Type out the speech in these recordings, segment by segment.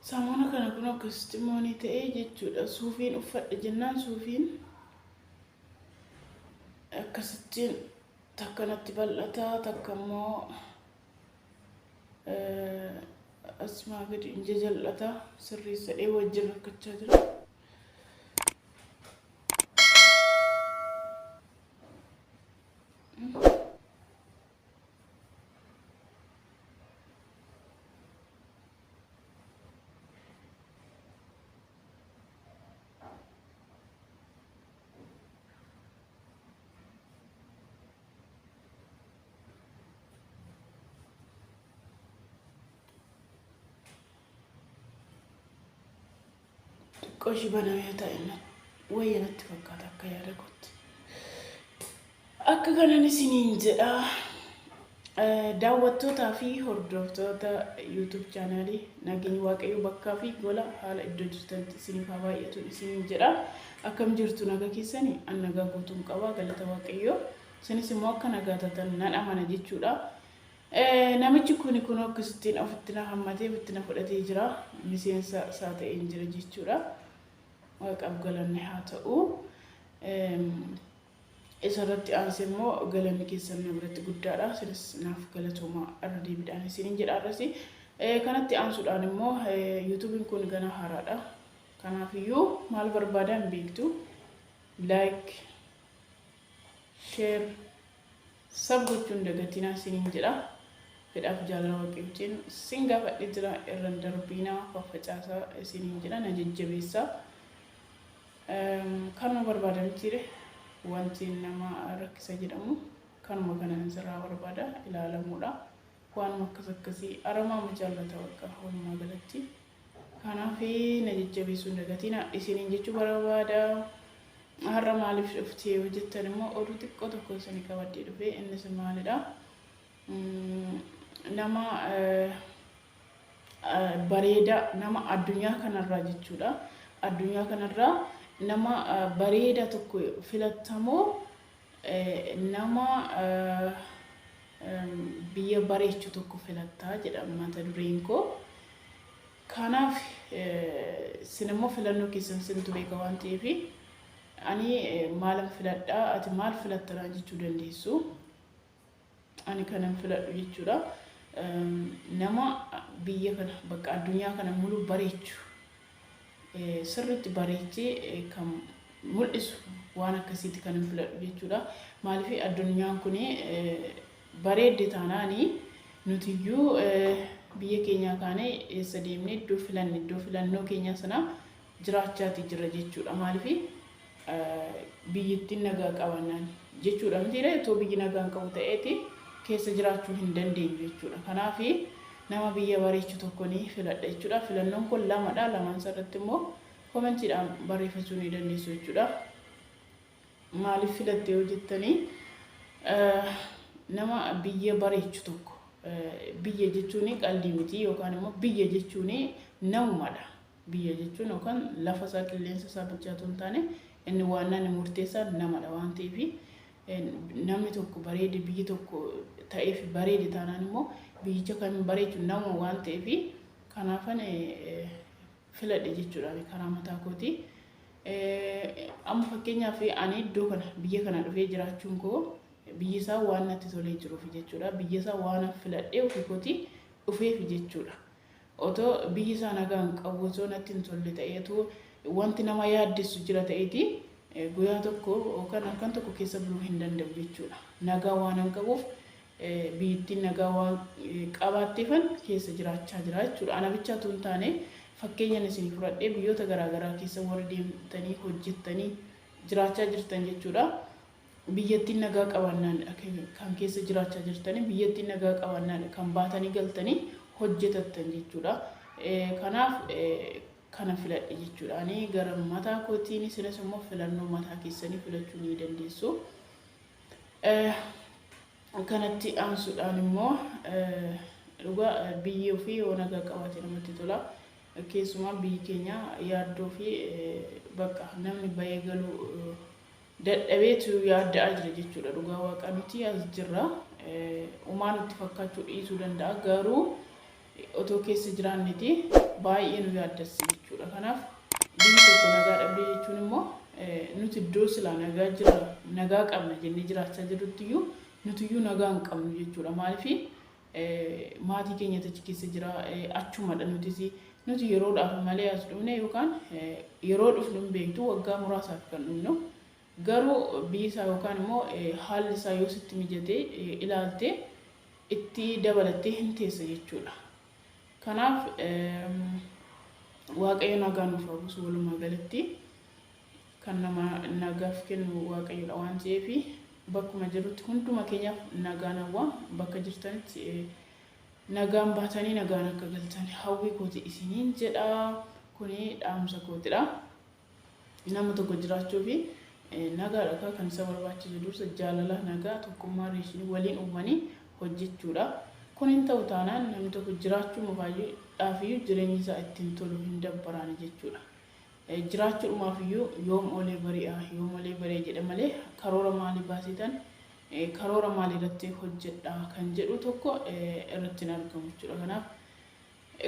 Saamuna kana kun akkasitti immoo ni ta'e jechuudha. Suufiin uffadhe jennaan suufiin akkasittiin takka natti bal'ataa takka immoo Asmaa gadi inja jal'ataa sirreessadhee wajjin rakkachaa jira. Qoshi baname yoo ta'e immoo wayya natti fakkaata akka yaada kootti. Akka kanan isiniin jedhaa Daawwattootaa fi hordoftoota YouTube channel nageenyi waaqayyoo bakkaa fi gola haala iddoo jirtanitti isiniif haa baay'atu isiniin jedha. Akkam jirtu naga keessani an nagaa guutuun qaba galata waaqayyoo. Isinis immoo akka nagaa tatan nan amana jechuudha. Namichi kun kun akkasittiin ofitti na hammatee ofitti na fudhatee jira. Miseensa isaa ta'een jira jechuudha. Waaqaaf galanni haa ta'u. Isa irratti aansee immoo galanni keessan na biratti guddaadha. Isinis naaf galatoomaa irra deebiidhaan isiniin jedha arrasi. Kanatti aansuudhaan immoo yuutuubiin kun ganaa haaraadha. Kanaafiyyuu maal barbaadaa hin beektu. Laayik, sheer, sab gochuun dagatinaa isiniin jedha. Fedhaaf jaalala waaqibjeen sin gaafadhe jira irran darbiinaa faffacaasaa isiniin jedha na jajjabeessaa. Kanuma barbaada mitiire wanti nama rakkisa jedhamu kanuma kanan sirraa barbaada ilaalamuudha waanuma akkas akkasii aramaa ma jaallata bakka walumaa galatti kanaaf na jajjabeessuun dagatiina isiniin jechuu barbaada har'a maaliif dhuftee yoo jettan immoo oduu xiqqoo tokko isini qabadhee dhufee innis maalidha nama bareeda nama addunyaa kanarraa jechuudha. Addunyaa kanarraa nama bareeda tokko filattamoo nama biyya bareechu tokko filattaa jedha mata dureen koo. Kanaaf sin immoo filannoo keessan sintu beeka waan ta'eef ani maalan filadhaa ati maal filatta naan jechuu dandeessu. Ani kanan filadhu jechuudha. Nama biyya kana bakka addunyaa kana mulu bareechu sirriitti bareechee kan mul'isu waan akkasiiti kanan filadhu jechuudha. Maaliif addunyaan kun bareedde taanaani nutiyyuu biyya keenyaa kaanee eessa deemne iddoo filanne iddoo filannoo keenyaa sana jiraachaati jira jechuudha. Maaliif biyyittiin nagaa qabaannaan jechuudha mitiiree otoo biyyi nagaan qabu ta'eeti keessa jiraachuu hin dandeenyu jechuudha. Kanaaf nama biyya bareechu tokko ni filadha jechuudha. Filannoon kun lamadha. Lamaan irratti immoo komentiidhaan barreeffachuu ni dandeessu jechuudha. Maaliif filatte yoo jettanii nama biyya bareechu tokko biyya jechuun qaldii miti yookaan immoo biyya jechuun namumadha. Biyya jechuun yookaan lafa isaa, qilleensa isaa bichaa otoo hin taane inni waannaa inni murteessaan namadha waan ta'eef namni tokko bareede biyyi tokko ta'eef bareede taanaan immoo biyyicha kan bareechu nama waan ta'eef kanaafan filadhe jechuudhaan karaa mataa kooti. Amma fakkeenyaaf ani iddoo kana biyya kana dhufee jiraachuun koo biyyi isaa waan natti tolee jiruuf jechuudha. Biyya isaa waan filadhee ofii kooti dhufeef jechuudha. Otoo biyyi isaa nagaa hin qabu osoo natti hin tolle ta'ee otoo wanti nama yaaddessu jira ta'eeti guyaa tokko yookaan halkan tokko keessa buluu hin danda'u jechuudha. Nagaa waanan qabuuf biyyittiin nagaa waan qabaatteefan keessa jiraachaa jira jechuudha. Ana bichaa otoo hin taane fakkeenyan isinii fudhadhee biyyoota garaa garaa keessa warri deemtanii hojjettanii jiraachaa jirtan jechuudha. Biyyattiin nagaa qabaannaan dha kan keessa jiraachaa jirtanii, biyyattiin nagaa qabaannaan dha kan baatanii galtanii hojjetattan jechuu dha. Kanaaf kana filadhe jechuu dha. Ani gara mataa kootiin isinis immoo filannoo mataa keessanii filachuu ni dandeessu. Kanatti aansuudhaan immoo dhugaa biyyi ofii yoo nagaa qabaate namatti tola. Keessumaa biyyi keenya yaaddoo fi bakka namni bahee galuu dadhabeetu yaadda'aa jira jechuudha dhugaa waaqaa nuti as jirra umaa nutti fakkaachuu dhiisuu danda'a garuu otoo keessa jiraanneti baay'ee nu yaaddassa jechuudha kanaaf biyyi tokko nagaa dhabdee jechuun immoo nuti iddoo silaa nagaa jirra nagaa qabna jennee jiraachaa jirrutti iyyuu nuti iyyuu nagaa hin qabnu jechuudha maaliif Maatii keenyatu achi keessa jira. Achumadha nutis. Nuti yeroodhaaf malee as dhufne yookaan yeroo dhufnu hin beektu waggaa muraasaaf kan dhufnu. Garuu biyyi isaa yookaan immoo haalli isaa yoo sitti mijatee ilaaltee itti dabalattee hin teessa jechuudha. Kanaaf Waaqayyo nagaa nuuf haa buusu walumaa galatti. Kan nama nagaaf kennu Waaqayyodha waan ta'eef bakkuma jirrutti hunduma keenyaaf nagaan hawwa. Bakka jirtanitti nagaan baatanii nagaan akka galtan hawwii kooti isiniin jedha. Kuni dhaamsa kootidha. Nama tokko jiraachuu fi nagaadha akka kan isa barbaachisu dursa jaalala nagaa tokkummaa riishinii waliin uumanii hojjechuudha. Kun hin ta'u taanaan namni tokko jiraachuu mufaayyuu dhaafiyyuu jireenyi isaa ittiin tolu hin dabbaraani jechuudha. Jiraachuudhumaaf iyyuu yoom oolee bari'a, yoom olee bari'a jedha malee karoora maalii baasitan, karoora maalii irratti hojjedha kan jedhu tokko irratti hin argamu jechuudha. Kanaaf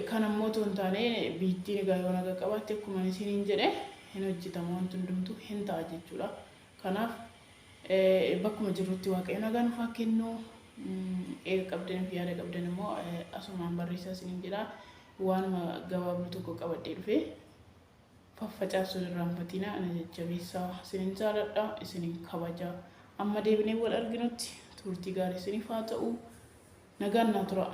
kan ammoo otoo hin taane biittiin egaa yoo naga qabaatte akkuma isiniin jedhe hin hojjetama wanti hundumtuu hin ta'a jechuudha. Kanaaf bakkuma jirrutti waaqayyo nagaa nuuf haa kennu. Eega qabdaniif yaada qabdan immoo asumaan barreessaa isiniin jedha. Waanuma gabaabduu tokko qabadhee dhufe. Faffacaasuun irraanfatinaa ana jajjabeessaa. Isinin jaaladha, isinin kabaja. Amma deebinee wal arginutti turtii gaarii isiniif haa ta'u. Nagaan naa turaa.